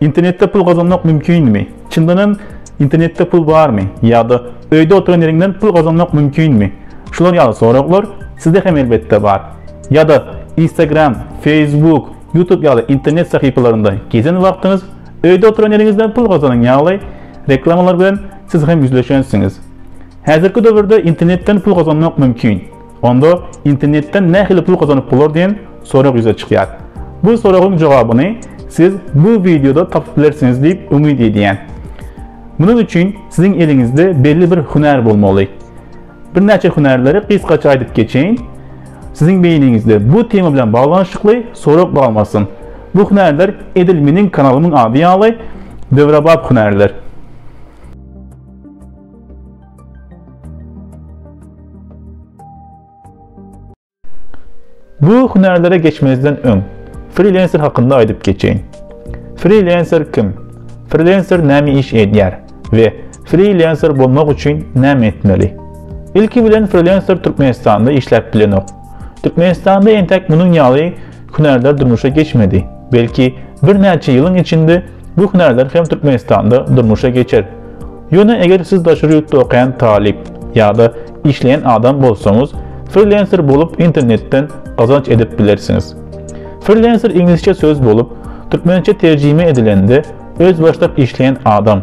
Internetde pul gazanmak mümkinmi? Çyndan hem internetde pul barmy? Ýa-da öýde oturan ýeriňden pul gazanmak mümkinmi? Şular ýaly soraglar sizde hem elbetde bar. Ýa-da Instagram, Facebook, YouTube ýaly internet sahypalarynda gezen wagtyňyz öýde oturan ýeriňizden pul gazanan ýaly reklamalar bilen siz hem ýüzleşensiňiz. Häzirki döwürde internetden pul gazanmak mümkin. Onda internetden nähili pul gazanyp bolar diýen sorag ýüze çykýar. Bu soragyň jogabyny siz bu wideoda tapyp bilersiňiz diýip umyt edýän. Munuň üçin siziň eliňizde belli bir hünär bolmaly. Birnäçe hünärleri gysgaça aýdyp geçeýin. Siziň beýniňizde bu tema bilen baglanyşykly sorag galmasyn. Bu hünärler edil meniň kanalymyň ady ýaly döwrebap hünärler. Bu hünärlere geçmezden öň, frilenser hakynda aýdyp geçeýin. Frilenser kim? Frilenser näme iş edýär we frilenser bolmak üçin näme etmeli? Ilki bilen frilenser Türkmenistanda işläp bilenok. Türkmenistanda entek munuň ýaly hünärler durmuşa geçmedi. Belki, birnäçe ýylyň içinde bu hünärler hem Türkmenistanda durmuşa geçer. Ýöne eger siz daşary ýurtda okaýan talyp ýa-da işleýän adam bolsaňyz, frilenser bolup internetden gazanç edip bilersiňiz. Frilenser iňlisçe söz bolup, türkmençe terjime edilende özbaşdak işleýän adam.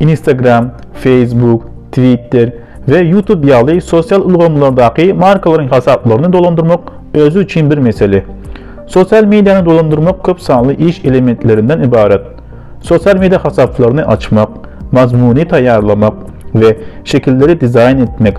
Instagram, Facebook, Twitter we YouTube ýaly sosial ulgamlardaky markalaryň hasaplaryny dolandyrmak özi üçin bir mesele. Sosial mediany dolandyrmak köp sanly iş elementlerinden ybarat. Sosial media hasaplaryny açmak, mazmuny taýýarlamak we şekilleri dizaýn etmek,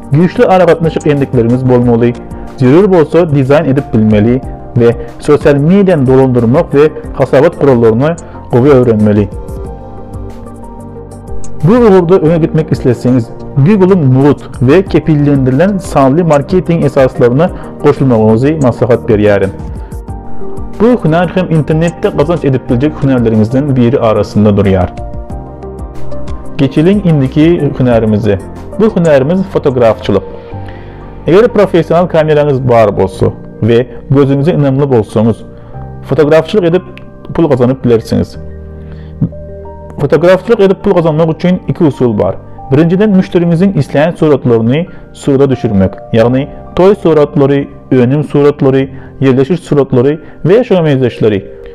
Güýçli aragatnaşyk endikleriňiz bolmaly, zerur bolsa dizaýn edip bilmeli we sosial mediany dolandyrmak we hasabat gurallaryny gowy öwrenmeli. Bu ugurda öňe gitmek isleseňiz, Google-yň mugt we kepillendirilen sanly marketing esaslaryna goşulmagyňyzy maslahat berýärin. Bu hünär hem internetde gazanç edip biljek hünärleriňizden biri arasynda durýar. Geçeliň indiki hünärimize. Bu hünärimiz fotografçylyk. Eger professional kameraňyz bar bolsa we gözüňize ynamly bolsaňyz, fotografçylyk edip pul gazanyp bilersiňiz. Fotografçylyk edip pul gazanmak üçin iki usul bar. Birinjiden müşderiňiziň islän suratlaryny surata düşürmek, ýagny toý suratlary, önüm suratlary, ýerleşiş suratlary we şoňa meňzeşleri.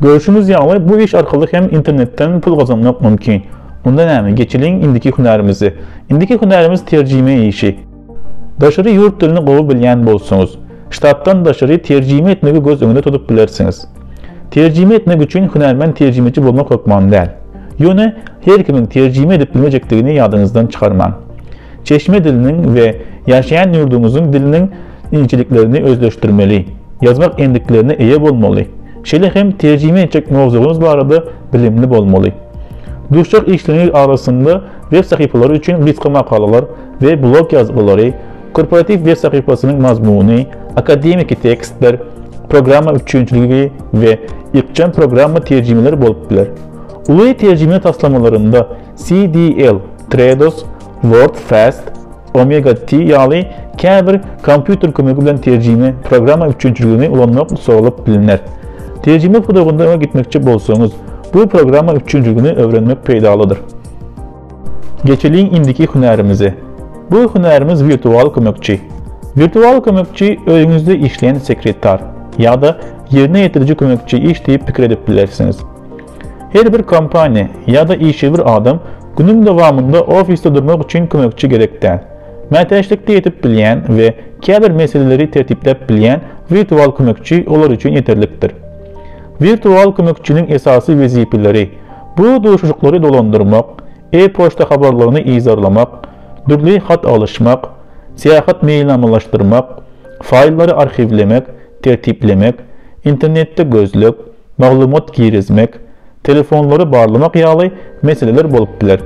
Görşüňiz ýaly bu iş arkaly hem internetden pul gazanmak mümkin. Onda näme, geçeliň indiki hünärimize. Indiki hünärimiz terjime işi. Daşary ýurt dilini gowy bilýän bolsaňyz, ştatdan daşary terjime etmegi göz öňünde tutup bilersiňiz. Terjime etmek üçin hünärmen terjimeçi bolmak hökman däl. Ýöne her kimiň terjime edip bilmejekdigini ýadyňyzdan çykarmaň. Çeşme diliniň we ýaşaýan ýurduňyzyň diliniň inçeliklerini özleşdirmeli, ýazmak endiklerine eýe bolmaly, şeýle hem terjime etjek mowzugyňyz barada bilimli bolmaly. Duşjak işleriňiz arasynda web sahypalary üçin gysga makalalar we blog ýazgylary, korporatiw web sahypasynyň mazmuny, akademiki tekstler, programma üpjünçiligi we ykjam programma terjimeleri bolup biler. Uly terjime taslamalarynda CDL, Trados, WordFast, Omega T ýaly käbir kompýuter kömegi bilen terjime programma üpjünçiligini ulanmak soralyp bilner. Terjime pudagynda öňe gitmekçi bolsaňyz, bu programma üpjünçiligini öwrenmek peýdalydyr. Geçeliň indiki hünärimize. Bu hünärimiz wirtual kömekçi. Wirtual kömekçi öýüňizde işleýän sekretar ýa-da ýerine ýetiriji kömekçi iş diýip pikir edip bilersiňiz. Her bir kompaniýa ýa-da işewür adam günüň dowamynda ofisde durmak üçin kömekçi gerek däl. Mätäçlikde ýetip bilýän we käbir meseleleri tertipläp bilýän wirtual kömekçi olar üçin ýeterlikdir. Wirtual kömekçiniň esasy wezipeleri, bu duşuşyklary dolandyrmak, e-poçta habarlaryny yzarlamak, dürli hat alyşmak, syýahat meýilnamalaşdyrmak, faýllary arhiwlemek, tertiplemek, internetde gözleg, maglumat girizmek, telefonlary barlamak ýaly meseleler bolup biler.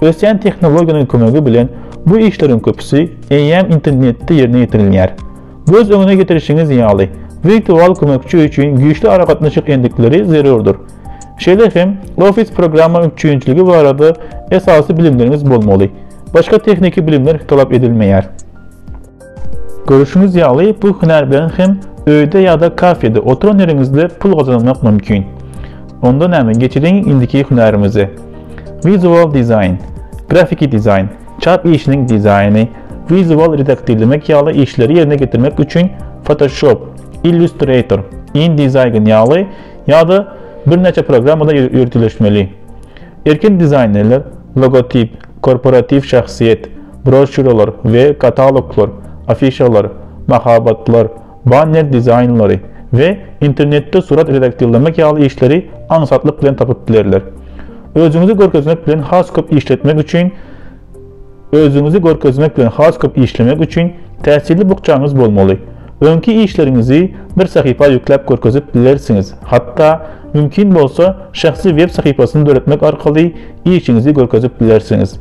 Ösýän tehnologiýanyň kömegi bilen bu işleriň köpüsi eýýäm internetde ýerine ýetirilýär. Göz öňüne getirişiňiz ýaly, wirtual kömekçi üçin güýçli aragatnaşyk endikleri zerurdyr. Şeýle hem Office programma üpjünçiligi barada esasy bilimleriňiz bolmaly. Başga tehniki bilimler talap edilmeýär. Görüşiňiz ýaly bu hünär bilen hem öýde ýa-da kafede oturan ýeriňizde pul gazanmak mümkin. Onda näme geçiriň indiki hünäriňize. Wizual dizaýn, grafiki dizaýn, çap işiniň dizaýny, wizual redaktirlemek ýaly işleri ýerine getirmek üçin Photoshop, Illustrator, InDesign ýaly ýa-da birnäçe programmada ýöriteleşmeli. Erkin dizaýnerler, logotip, korporatiw şahsyýet, Broşýuralar we kataloglar, afişalar, mahabatlar, banner dizaýnlary we internetde surat redaktirlemek ýaly işleri aňsatlyk bilen tapyp bilerler. Özüňizi görkezmek bilen has köp işletmek üçin Özüňizi görkezmek bilen has köp işlemek üçin täsirli bukjaňyz bolmaly. Öňki işleriňizi bir sahypa ýükläp görkezip bilersiňiz, hatda mümkin bolsa şahsy web sahypasyny döretmek arkaly işiňizi görkezip bilersiňiz.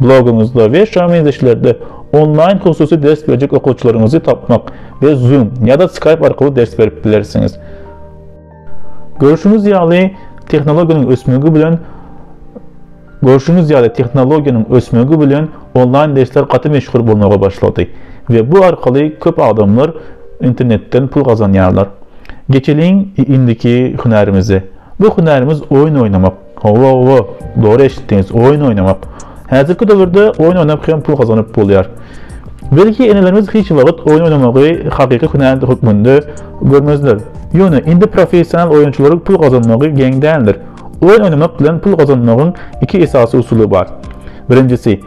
Blogyňyzda we şa meňzeşlerde onlaýn hususy ders berjek okuwçylaryňyzy tapmak we Zoom ýa-da Skype arkaly ders berip bilersiňiz. Görşüňiz ýaly, tehnologiýanyň ösmegi bilen Görşüňiz ýaly, tehnologiýanyň ösmegi bilen onlaýn dersler gaty meşhur bolmaga başlady we bu arkaly köp adamlar internetden pul gazanýarlar. Geçeliň indiki hünärimize. Bu hünärimiz oýun oýnamak. Howwa howwa, dogry eşitdiňiz, oýun oýnamak. Häzirki döwürde oýun oýnap hem pul gazanyp bolýar. Belki enelerimiz hiç wagt oýun oýnamagy hakyky hünä hökmünde görmezler. Ýöne indi professional oýunçylaryň pul gazanmagy geň däldir. Oýun oýnamak bilen pul gazanmagyň iki esasy usuly bar. Birinjisi,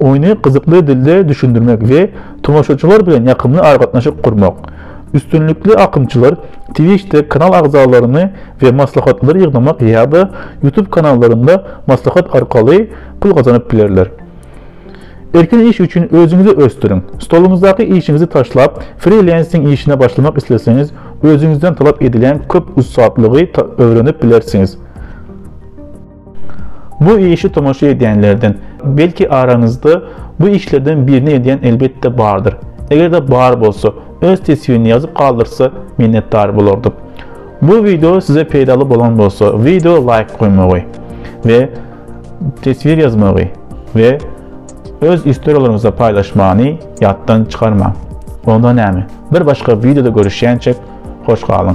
Oýny gyzykly dilde düşündirmek we tomaşaçylar bilen ýakymly aragatnaşyk gurmak. Üstünlikli akymçylar Twitch-de kanal agzalaryny we maslahatlary ýygnamak ýa-da YouTube kanallarynda maslahat arkaly pul gazanyp bilerler. Erkin iş üçin özüňizi ösdüriň. Stoluňyzdaky işiňizi taşlap, frilensing işine başlamak isleseňiz, özüňizden talap edilýän köp ussatlygy öwrenip bilersiňiz. Bu işi tomaşa edýänlerden, belki araňyzda bu işlerden birini edýän elbetde bardyr. Eger-de bar bolsa, öz teswini ýazyp galdyrsa, minnetdar bolardyk. Bu video size peýdaly bolan bolsa, video laýk goýmagy we teswir ýazmagy we öz istorýalaryňyzy paýlaşmagyny ýatdan çykarmaň. Onda näme? Bir başga videoda görüşýänçek, hoş galyň.